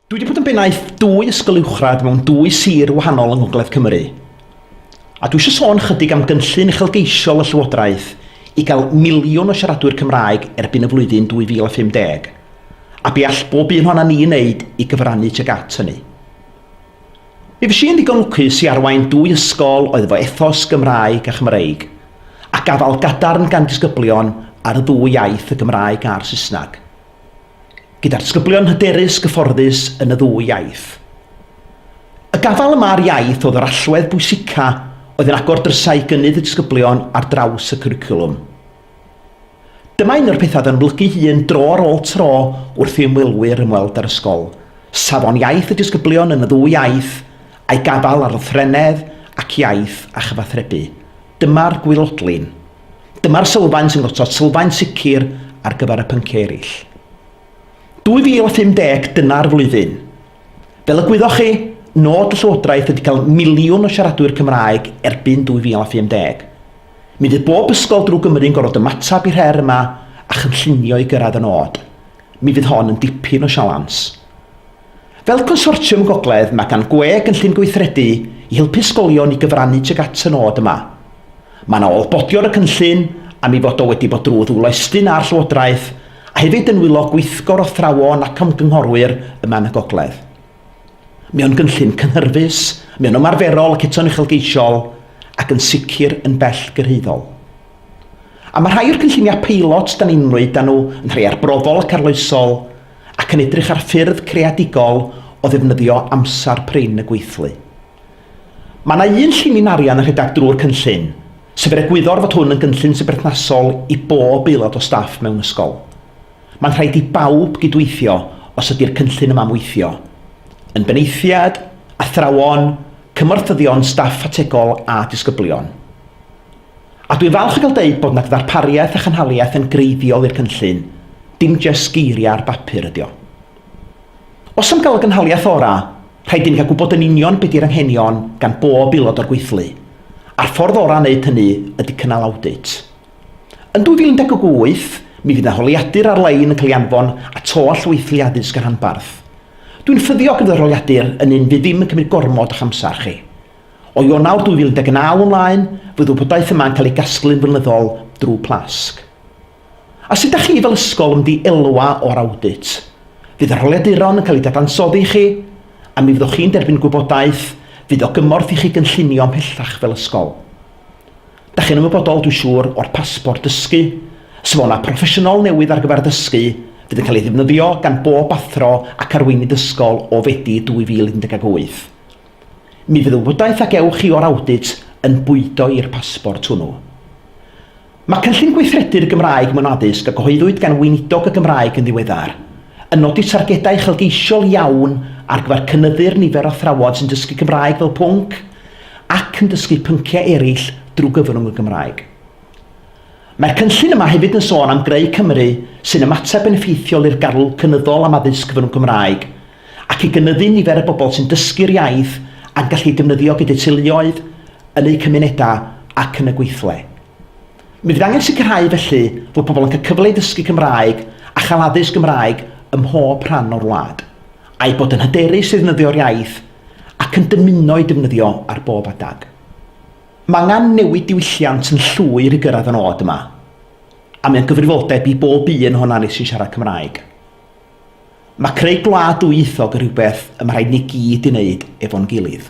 Dwi wedi bod yn bennaeth dwy ysgol uwchradd mewn dwy sir wahanol yng Ngogledd Cymru, a dwi eisiau sôn chydig am gynllun uchelgeisiol y Llywodraeth i gael miliwn o siaradwyr Cymraeg erbyn y flwyddyn 2050, a be all bob un ohonan ni ei wneud i gyfrannu tuag at hynny. Mi fues i yn ddigon lwcus i arwain dwy ysgol oedd efo ethos Gymraeg a Chymreig, a gafael gadarn gan disgyblion ar y ddwy iaith, y Gymraeg a'r Saesneg. gyda'r disgyblion hyderus gyfforddus yn y ddwy iaith. Y gafael yma ar iaith oedd yr allwedd bwysica oedd yn agor drysau i gynnydd y disgyblion ar draws y cwricwlwm. Dyma un o'r pethau yn ymlygu hun dro ar ôl tro wrth i ymwelwyr ymweld â'r ysgol, safon iaith y disgyblion yn y ddwy iaith, a'i gafael ar lythrennedd ac iaith a chyfathrebu. Dyma'r gwylodlin. Dyma'r sylfaen sy'n gosod sylfaen sicr ar gyfer y pynciau eraill. 2050 dyna'r flwyddyn. Fel y gwyddoch chi, nod y Llywodraeth ydy cael miliwn o siaradwyr Cymraeg erbyn 2050. Mi fydd bob ysgol drwy Gymru'n gorfod ymateb i'r her yma a chynllunio i gyrraedd y nod. Mi fydd hon yn dipyn o sialans. Fel Consortiwm Gogledd mae gan GWE gynllun gweithredu i helpu ysgolion i gyfrannu tuag at y nod yma. Mae yna olbodi o'r y cynllun am ei fod o wedi bod drwy ddwylo Estyn a'r Llywodraeth, a hefyd yn nwylo gweithgor o athrawon ac ymgynghorwyr yma yn y Gogledd. Mae o'n gynllun cynhyrfus, mae o'n ymarferol ac eto'n uchelgeisiol, ac yn sicr yn bell gyrhaeddol. A mae rhai o'r cynlluniau peilot da ni'n ymwneud â nhw yn rhai arbrofol ac arloesol, ac yn edrych ar ffyrdd creadigol o ddefnyddio amser prin y gweithlu. Mae yna un llinyn arian yn rhedeg drwy'r cynllun, sef er egwyddor fod hwn yn gynllun sy'n berthnasol i bob aelod o staff mewn ysgol. Mae'n rhaid i bawb gydweithio os ydy'r cynllun yma'n weithio, yn benaethiaid, athrawon, cymorthyddion staff ategol a disgyblion. A dwi'n falch o gael deud bod yna ddarpariaeth a chynhaliaeth yn greiddiol i'r cynllun, dim jest geiriau ar bapur ydy o. Os am gael y gynhaliaeth orau, rhaid i ni gael gwybod yn union be di'r anghenion gan bob aelod o'r gweithlu, a'r ffordd orau o wneud hynny ydy cynnal awdit. Yn 2018, mi fydd 'na holiadur ar-lein yn cael ei anfon at holl weithlu addysg y rhanbarth. Dwi'n ffyddiog fod yr holiadur yn un fydd ddim yn cymryd gormod o'ch amser chi. O Ionawr 2019 ymlaen, fydd y wybodaeth yma'n cael ei gasglu'n flynyddol drwy Plasg. A sut dach chi fel ysgol yn mynd i elwa o'r awdit? Fydd yr holiaduron yn cael eu dadansoddi i chi, a mi fyddwch chi'n derbyn gwybodaeth fydd o gymorth i chi gynllunio ymhellach fel ysgol. Dach chi'n ymwybodol, dwi'n siŵr, o'r Pasbort Dysgu, safona proffesiynol newydd ar gyfer dysgu fydd yn cael ei ddefnyddio gan bob athro ac arweinydd ysgol o Fedi 2018. Mi fydd y wybodaeth a gewch chi o'r awdit yn bwydo i'r pasbort hwnnw. Mae Cynllun Gweithredu'r Gymraeg mewn Addysg a gyhoeddwyd gan Weinidog y Gymraeg yn ddiweddar, yn nodi targedau uchelgeisiol iawn ar gyfer cynyddu'r nifer o athrawon sy'n dysgu Cymraeg fel pwnc ac yn dysgu pynciau eraill drwy gyfrwng y Gymraeg. Mae'r cynllun yma hefyd yn sôn am greu Cymru sy'n ymateb yn effeithiol i'r garw cynyddol am addysg gyfrwng Cymraeg, ac i gynyddu nifer y bobl sy'n dysgu'r iaith a'n gallu i defnyddio gyda'u teuluoedd, yn eu cymunedau ac yn y gweithle. Mi fydd angen sicrhau felly fod pobl yn cael cyfle i ddysgu Cymraeg a chael addysg Gymraeg ym mhob rhan o'r wlad, a'u bod yn hyderus i ddefnyddio'r iaith ac yn dymuno ei defnyddio ar bob adeg. Mae angen newid diwylliant yn llwyr i gyrraedd y nod yma, a mae o'n gyfrifoldeb i bob un ohonan ni sy'n siarad Cymraeg. Mae creu gwlad dwyieithog yn rhywbeth y mae rhaid ni gyd ei wneud efo'n gilydd.